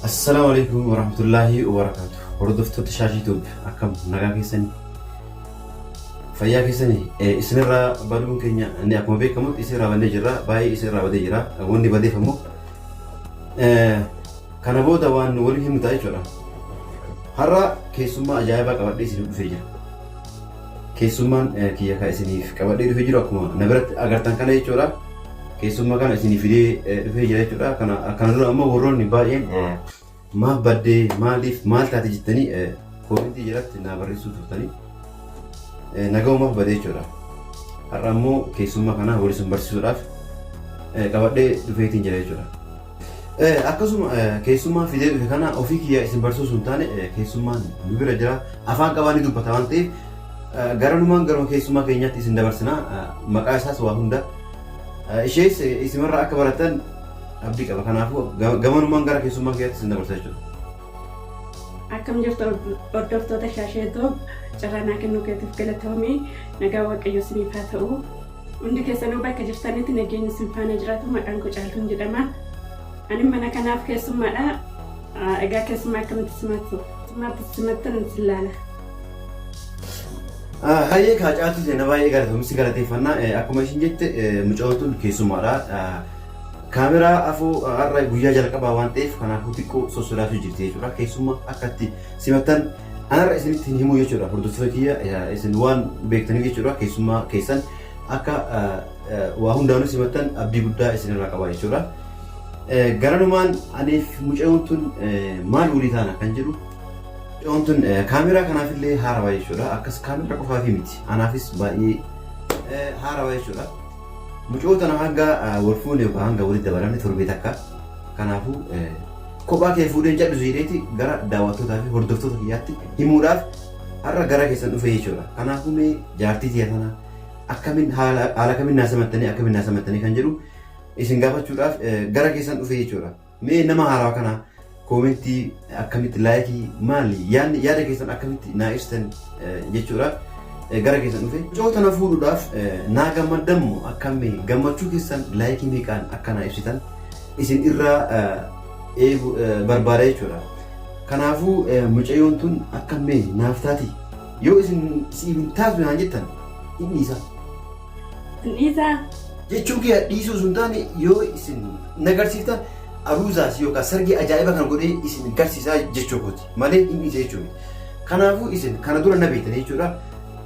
Assalaamu alaikum warahmatullaahi wabarakaatu hordoftoota shaashii tuub akkam nagaa keessanii fayyaa keessanii Eh, isinirraa baduun keenya inni akkuma beekamutti isinirraa badnee jirra baay'ee isinirraa badee jira wanni badeef ammoo eh, kana booda waan nu waliin himnu ta'a jechuudha har'a keessummaa ajaa'ibaa qabadhee isiniif dhufee jira Keessummaan kiyya kan isiniif qabadhee dhufe jiru akkuma na biratti agartan kana jechuudha. Keessummaa kana isinii fidee eh, dhufee jira jechuudha. Kana kana dura ammoo warroonni baay'een eh, maaf baddee maaliif maal taate jettanii eh, koomentii jalatti naa barreessuu turtanii eh, naga'umaaf badee jechuudha. Har'a ammoo keessummaa kana wal isin barsiisuudhaaf eh, qabadhee dhufeetiin jira jechuudha. Akkasuma keessummaa fidee dhufe kana ofii kiyyaa isin barsiisuu hin taane keessummaan nu bira jira afaan qabaa ni dubbata waan ta'eef garanumaan garuma keessummaa keenyaatti isin dabarsina maqaa isaas waa hunda ishees isimarraa akka baratan abdii qaba kanaafuu gamanumaan gara keessummaa kiyyaatti isin dabarsa jechuudha. Akkam jirtu hordoftoota shaashee toob carraa naa kennuu keetiif galatoomii nagaa waaqayyo isiniif haa ta'u. Hundi keessanuu bakka jirtanitti nageenyi isin faana jiraatu maqaan koo caaltuun jedhama. Ani mana kanaaf keessummaadha. Egaa keessummaa akkamitti simattu? Simaatti simattan isin laala. Hayyee kaa caaltuu seenaa baay'ee galatoomsi galateeffannaa akkuma isin jette mucootuun keessummaadha. Kaameraa afoo har'a guyyaa jalqabaa waan ta'eef kanaafuu xiqqoo sossodaatu jirti jechuudha. Keessummaa akkatti simattan anarra isinitti hin himuu jechuudha hordoftoota kiyya eh, isin waan beektaniif jechuudha keessummaa keessan akka eh, eh, waa hundaanuu simattan abdii guddaa isinirraa qaba jechuudha. Eh, Garanumaan aniif mucayoon tun eh, maal walii taana kan jedhu mucayoon tun eh, kaameeraa kanaaf illee haarawaa jechuudha akkas kaameeraa qofaaf miti anaafis baay'ee eh, haarawaa jechuudha. Mucayoo tana hanga eh, wal fuune yookaan hanga walitti dabalamne torbee takka kanaafuu eh, Kophaa kee fuudhee hin cadhisu jedheeti gara daawwattootaa fi hordoftoota kiyyaatti himuudhaaf har'a gara keessan dhufe jechuudha. Kanaafuu mee jaartii tiyya tana akkamiin haala haala kamiin naa simattanii akkamiin naa simattanii kan jedhu isin gaafachuudhaaf eh, gara keessan dhufe jechuudha. Mee nama haaraa kana koomentii akkamitti laayikii maali yaadni yaada keessan akkamitti naa ibsitan eh, jechuudhaaf eh, gara keessan dhufe. Mucoo tana fuudhuudhaaf eh, naa gammaddan moo akkamii gammachuu keessan laayikii meeqaan akka naa ibsitan isin irraa eegu barbaada jechuudha. Kanaafuu mucayyoon tun akka mee naaf taati yoo isin siif hin taatu naan jettan hin dhiisa. Hin dhiisaa? Jechuu kiyya dhiisuu sun taane yoo isin na garsiiftan aruuzaas yookaan sargii ajaa'iba kan godhee isin garsiisaa jechuu kooti malee hin dhiisa jechuudha. Kanaafuu isin kana dura na beektan jechuudha.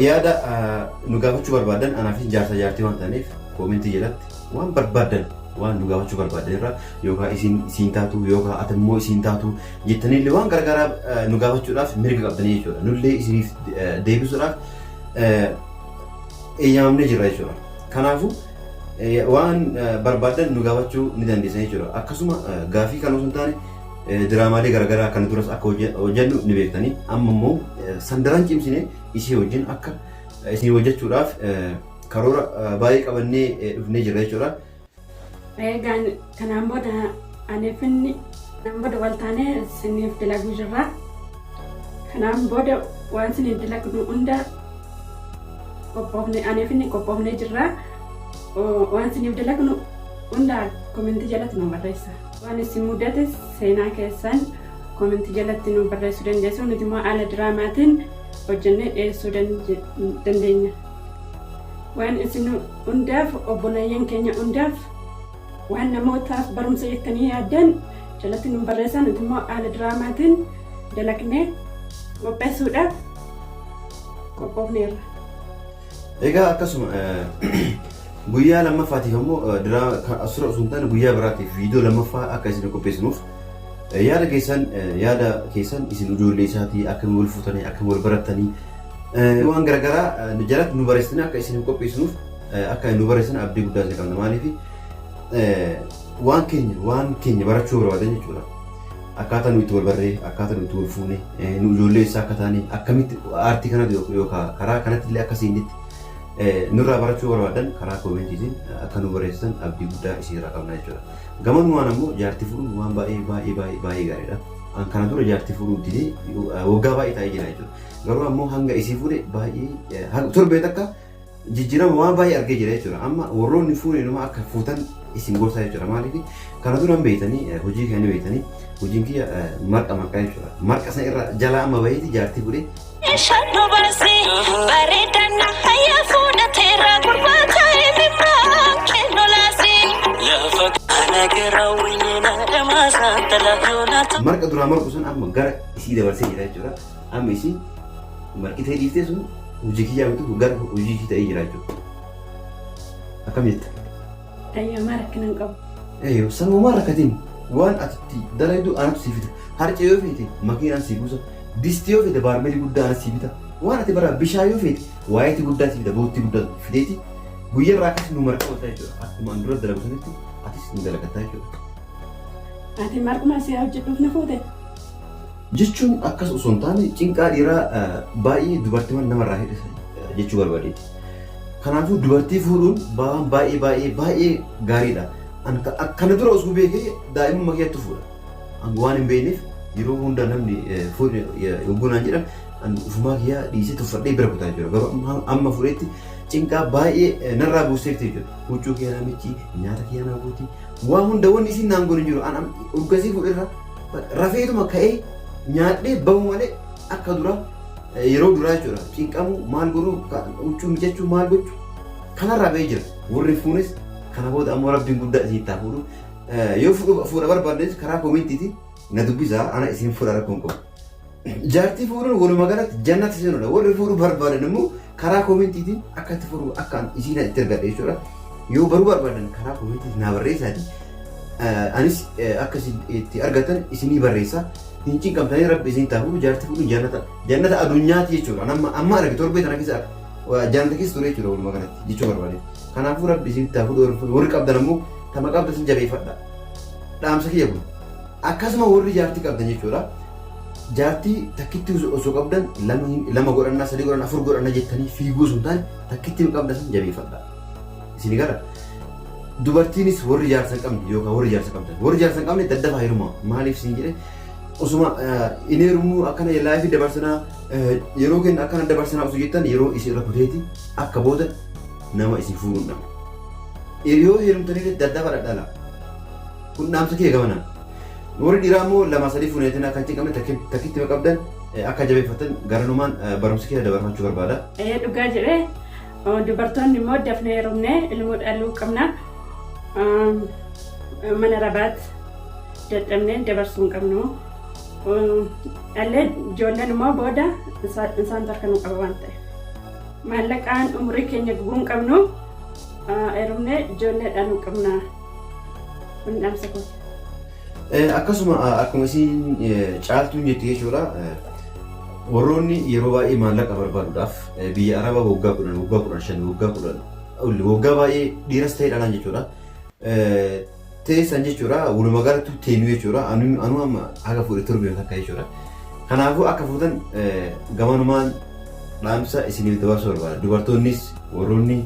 Yaada nu gaafachuu barbaadan anaaf jaarsa jaartii waan ta'aniif koomentii jalatti waan barbaadan waan nu gaafachuu barbaadan irra yookaan isin isin taatu yookaan ati immoo isin taatu jettaniillee waan gargaaraa nu gaafachuudhaaf mirga qabdanii jechuudha. Nullee isiniif deebisuudhaaf eeyyamamnee jirra jechuudha. Kanaafuu waan barbaadan nu gaafachuu ni dandeessan jechuudha. Akkasuma gaafii kan osoo hin taane Diraamaalee garaagaraa kana duras akka hojjennu ni beektanii amma immoo san daran cimsine isii wajjin akka isin hojjechuudhaaf karoora baay'ee qabannee dhufnee jirra jechuudha. Eegaan kanaan booda anee finni kanaan booda wal taanee isiniif dalaguu jirra. Kanaan booda waan isiniif dalagnu hunda qophoofne anee finni qophoofnee jirra. Waan isiniif dalagnu hunda komentii jalatti nu barreessa. Waan isin mudate seenaa keessan koomentii jalatti nu barreessuu dandeessu. Nuti immoo haala diraamaatiin hojjennee dhiyeessuu dandeenya. Waan isin hundaaf obboleeyyan keenya hundaaf waan namootaaf barumsa jettanii yaaddan jalatti nu barreessaa nuti immoo haala diraamaatiin dalagnee qopheessuudhaaf qophoofneerra. Egaa akkasuma guyyaa lammaffaatiif ammoo diraama asirra osoo hin taane guyyaa biraatiif viidiyoo lammaffaa akka isin qopheessinuuf yaada keessan yaada keessan isin ijoollee isaatii akkamiin wal fuutanii akkamiin wal barattanii waan garaagaraa jalatti nu barreessitanii akka isin qopheessinuuf akka nu barreessan abdii guddaa isin qabna maaliif waan keenya waan keenya barachuu barbaadan jechuudha. Akkaataa nuyi itti wal barree, akkaataa nuyi itti wal fuune, nu ijoollee eessaa akka taane, akkamitti aartii kanatu yookaan karaa kanatti illee akka siinditti nurraa barachuu barbaadan karaa koomentiitiin akka nu barreessitan abdii guddaa isinirraa qabna jechuudha. Gamanumaan ammoo jaartii fuudhuun waan baay'ee baay'ee baay'ee baay'ee gaariidha. An kana dura jaartii fuudhuu didee waggaa baay'ee taa'ee jira jechuudha. Garuu ammoo hanga isii fuudhe baay'ee torbee takka jijjirama waan baay'ee argee jira jechuudha. Amma warroonni fuunee numa akka fuutan isin gorsaa jechuudha. Maaliif kana dura hin beektanii eh, hojii kiyya ni beektanii hojiin kiyya eh, marqa marqaa jechuudha. Marqa sana irra jalaa amma baheeti jaartii fudhee Shaddo baasi bareedaan na fayya fuula teera gurbaa ka'ee bimmaa kennu laasi. Lafa kana gara wayina dhamaasa talaa yoonaa marqa duraa marqu sun amma gara isii dabarsee jira jechuudha. Amma isin marqitee dhiiftee sun hojii kiyyaa miti kun gara hojii ishii ta'ee jira jechuudha. Akkam jetta? Ayyamaa rakkina hin qabu. Ee sanumaa rakkatiin waan ati itti dalaydu anatu sii fida. Harcee yoo feete makiinaan sii buusa. Distii yoo feete baarmeelii guddaa anas sii bita. Waan ati bara bishaan yoo feete waayitii guddaa sii fida boottii guddaa fideeti. Guyyaa irraa akkas nu marqa ooltaa jechuudha. Akkuma an dura dalagu sanitti atis nu dalagataa jechuudha. Ati marquma si hojjedhuuf na fuute. Jechuun akkas osoo hin taane cinqaa dhiiraa baay'ee dubartiman namarraa hir'isa jechuu barbadeeti. Kanaafuu dubartii fuudhuun waan baay'ee baay'ee baay'ee gaariidha. An ka- ak- kana dura osoo beekee daa'imummaa keettu fuudha. An waan hin beekneef yeroo hunda namni eh, fuudhi eh, yogguu naan jedhan an ufumaa kiyyaa dhiisee tuffadhee bira kutaa jira. Garuu amma, amma fuudhetti cinqaa baay'ee eh, narraa buusteefti jechuudha. Huccuu kiyya naa miccii, nyaata kiyya naa guutii, waa hunda wanni isiin naan goone hin jiru. An am- urgasii fuudherra Rafeetuma ka'ee nyaadhee bahu malee akka dura yeroo duraa jechuudha. Cinqamuu maal godhuu huccuu mijachuu maal gochuu kanarraa ba'ee jira. Warri fuunis kana booda ammoo rabbiin guddaa isin itti fuudhu. Yoo fuudha barbaadnes karaa koomentiiti na dubbisaa ana isin fuudha rakkoon qabu. Jaartii fuudhuun walumaa galatti jannata seenuudha. Warri fuudhuu barbaadan immoo karaa koomentiitiin akka itti furu akka isiina itti ergadhe jechuudha. Yoo baruu barbaadan karaa koomentiitiin naa barreessaati. Anis akka isin itti argatan isinii barreessa. Hin cinqamtanii rabbi isin taa fuudhu jaartii fuudhuun jannata jannata adunyaati jechuudha. Amma amma arge torbee tana keessa jannata keessa ture jechuudha walumaa galatti jechuu barbaade. Kanaafuu rabbi isin taa fuudhu warri qabdan ammoo tama qabda isin jabeeffadha. Dhaamsa kiyya kun. Akkasuma warri jaartii qabdan jechuudha. Jaartii takkittii osoo osoo qabdan lama hin- lama godhanna, sadii godhanna, afur godhanna jettanii fiiguu osoo hin taane takkittiin qabda san jabeeffadha. Isin gala. Dubartiinis warri jaarsa hin qabne yookaan warri jaarsa qabdan. Warri jaarsa hin qabne daddafaa heerumaa. Maaliif siin jedhe osuma eh, hin heerumnu akkana laayifii dabarsanaa eh, yeroo keenya akkana dabarsanaa osoo jettan yeroo isin irra kuteeti akka booda nama isin fuudhu hin dhabne. Yeroo heerumtanii daddafaa dhadhala. Kun dhaamsa kee gamanaan. Warri dhiiraa immoo lama sadii fuuneetiin akka hin cinqamne takkiitti ma qabdan akka jabeeffattan garanumaan barumsa kiyya dabarfachuu barbaada. Ee dhugaa jedhee dubartoonni immoo dafnee heerumnee ilmoo dhaluu qabna. Mana rabaat dadhabnee dabarsuu hin qabnu. Dhallee ijoolleen immoo booda isaantu harka nu qaba waan ta'eef. Maallaqaan umurii keenya gubuu hin qabnu. Heerumnee ijoollee dhaluu qabna. Kun dhamsa kooti. Akkasuma akkuma isiin caaltuun jette jechuudha. Warroonni yeroo baay'ee maallaqa barbaaduudhaaf biyya Arabaa waggaa kudhan, waggaa kudhan shan, waggaa kudhan olli waggaa baay'ee dhiiras ta'ee dhalaan jechuudha. Teessan jechuudha walumaa galatti teenu jechuudha. Anuu amma haga fuudhe torbee takka jechuudha. Kanaafuu akka fuutan gamanumaan dhaamsa isiniif dabarsuu barbaada. Dubartoonnis warroonni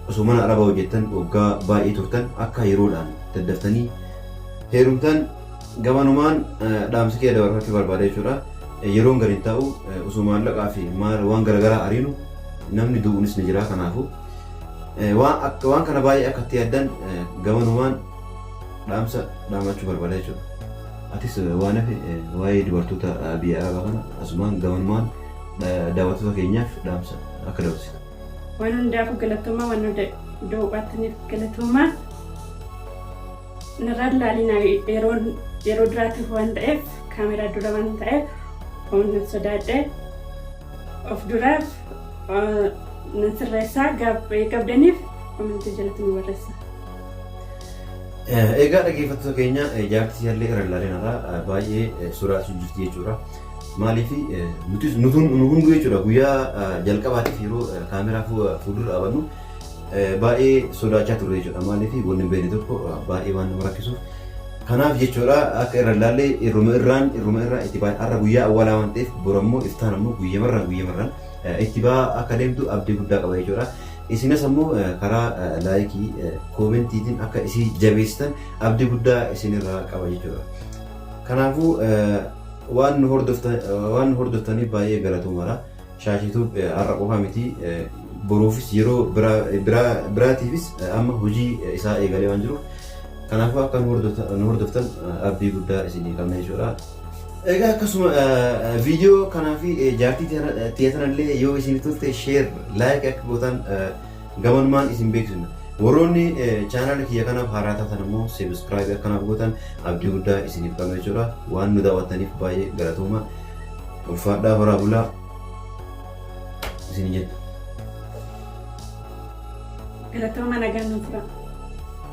Osoo mana arabaa hojjettan waggaa baay'ee turtan akka yeroodhaan daddaftanii heerumtan gamanumaan dhaamsa kiyya dabarfachuu barbaada jechuudha. Yeroon gad hin taa'u osoo maallaqaa fi maal waan garaagaraa ariinu namni du'uunis ni jira kanaafu waan akka waan kana baay'ee akka itti yaaddan gamanumaan dhaamsa dhaamachuu barbaada jechuudha. Atis waan hafe waa'ee dubartoota biyya arabaa kana asumaan gamanumaan daawwattoota keenyaaf dhaamsa akka dabarsitu. Waan hundaafuu galatoomaa waan hunda doo'attaniif galatoomaa. Narraan laalina yeroo yeroo duraatiif waan ta'eef kaameraa dura waan ta'eef waan nan sodaadhe of duraaf nan sirreessaa gabdaniif komentii jalatti nu barreessa. Egaa dhaggeeffattoota keenya jaartii jallee irra ilaalinarra baay'ee sodaachuu jirti jechuudha. Maaliif nutis nu hunduu jechuudha guyyaa jalqabaatiif yeroo kaameraa fuuldura dhaabannu baay'ee sodaachaa turre jechuudha. Maaliif wanni hin beekne tokko baay'ee waan nama rakkisuuf. Kanaaf jechuudha akka irra ilaallee irruma irraan irruma irraa itti baay'ee har'a guyyaa awwaalaa waan ta'eef bor ammoo iftaan ammoo guyyamarraan guyyamarraan itti ba'aa akka deemtu abdii guddaa qaba jechuudha. Isinas ammoo karaa laayikii koomentiitiin akka isii jabeessitan abdii guddaa isinirraa qaba jechuudha. Kanaafuu Waan nu hordoftaniif baay'ee galatoomaa. Shaashii Tube har'a qofa miti boruufis yeroo biraatiifis amma hojii isaa eegalee waan jiruuf kanaafuu akka nu hordoftan abdii guddaa isinii qabna jechuudha. Egaa akkasuma viidiyoo kanaa fi jaartii tiyatanallee yoo isin tolte sheer laayik akka gootan gamanumaan isin beeksifna. Warroonni chaanaala kiyya kanaaf haaraa taatan ammoo seebiskraayibii akka naaf gootan abdii guddaa isiniif qabna jechuudha. Waan nu daawwattaniif baay'ee galatooma. Ulfaadhaa horaa bulaa isin jenna. Galatooma nagaan nuuf tura.